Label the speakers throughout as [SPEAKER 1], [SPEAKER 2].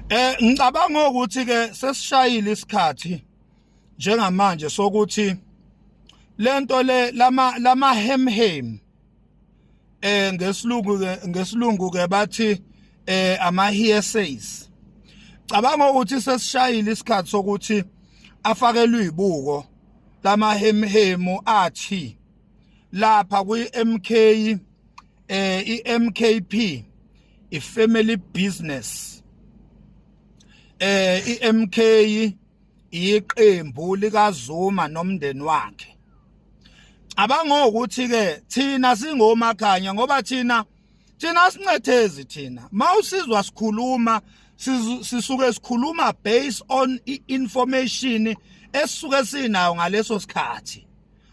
[SPEAKER 1] Eh ngicabanga ukuthi ke sesishayile isikhathi njengamanje sokuthi lento le lama lama hem hem eh ngesilungu ngesilungu ke bathi eh ama hearsays cabanga ukuthi sesishayile isikhathi sokuthi afakelwe ibuko lama hem hemu athi lapha kwi MK eh iMKP i family business eh iMK iqembu likaZuma nomndeni wakhe abanga ukuthi ke thina singomakhanya ngoba thina thina sincethezi thina mawusizwa sikhuluma sisuke sikhuluma based on information esisuke sinayo ngaleso sikhathi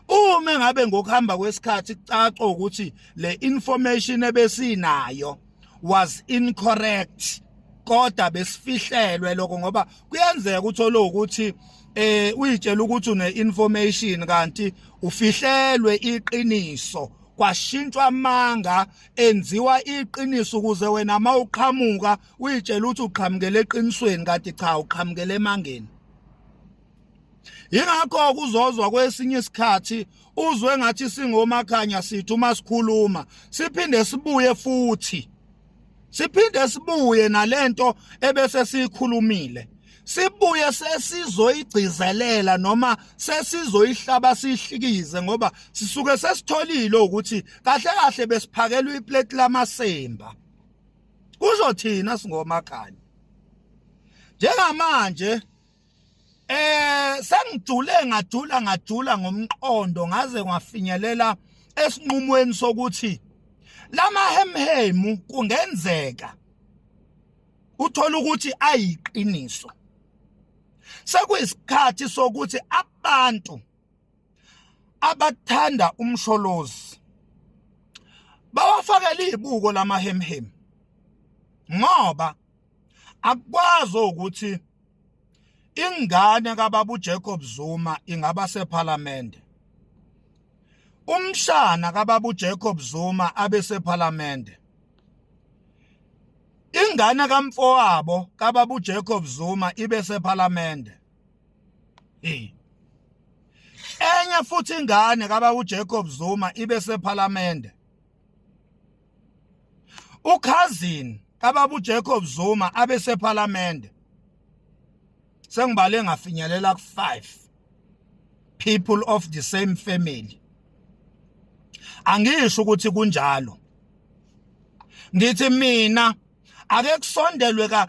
[SPEAKER 1] uma ngabe ngokuhamba kwesikhathi kucaca ukuthi le information ebesinayo was incorrect kodwa besifihlelwe lokho ngoba kuyenzeka ukuthi olokuthi eh uyitshela ukuthi une information kanti ufihlelwe iqiniso kwashintshwa amanga enziwa iqiniso ukuze wena uma uqhamuka uyitshela ukuthi uqhamukele eqinisweni kanti cha uqhamukele emangeni yingakho kuzozwa kwesinye isikhathi uzwe ngathi singomakhanya sithi uma sikhuluma siphinde sibuye futhi siphinde sibuye nalento ebese siyikhulumile sibuye sesizoyigcizelela noma sesizoyihlaba sihlikize ngoba sisuke sesitholile ukuthi kahle kahle besiphakelwa iplate lamasemba kusho thina singomakhanya njengamanje Eh sengijule ngajula ngajula ngomqondo ngaze kwafinyelela esinqumweni sokuthi lama hemhemu kungenzeka uthola ukuthi ayiqiniso sekuyisikhathi sokuthi abantu abathanda umsholozi bawafakele izibuko lamahemhemu ngoba akukwazi ukuthi ingane kababa uJacob Zuma ingaba sephalamende umshana kababa uJacob Zuma abe sephalamende ingane kamfowabo kababa uJacob Zuma ibe sephalamende hey enye futhi ingane kababa uJacob Zuma ibe sephalamende ukhazini kababu Jacob Zuma abesephalamende sengibale ngafinyelela ku5 people of the same family angisho ukuthi kunjalo ngithi mina ake kusondelwe ka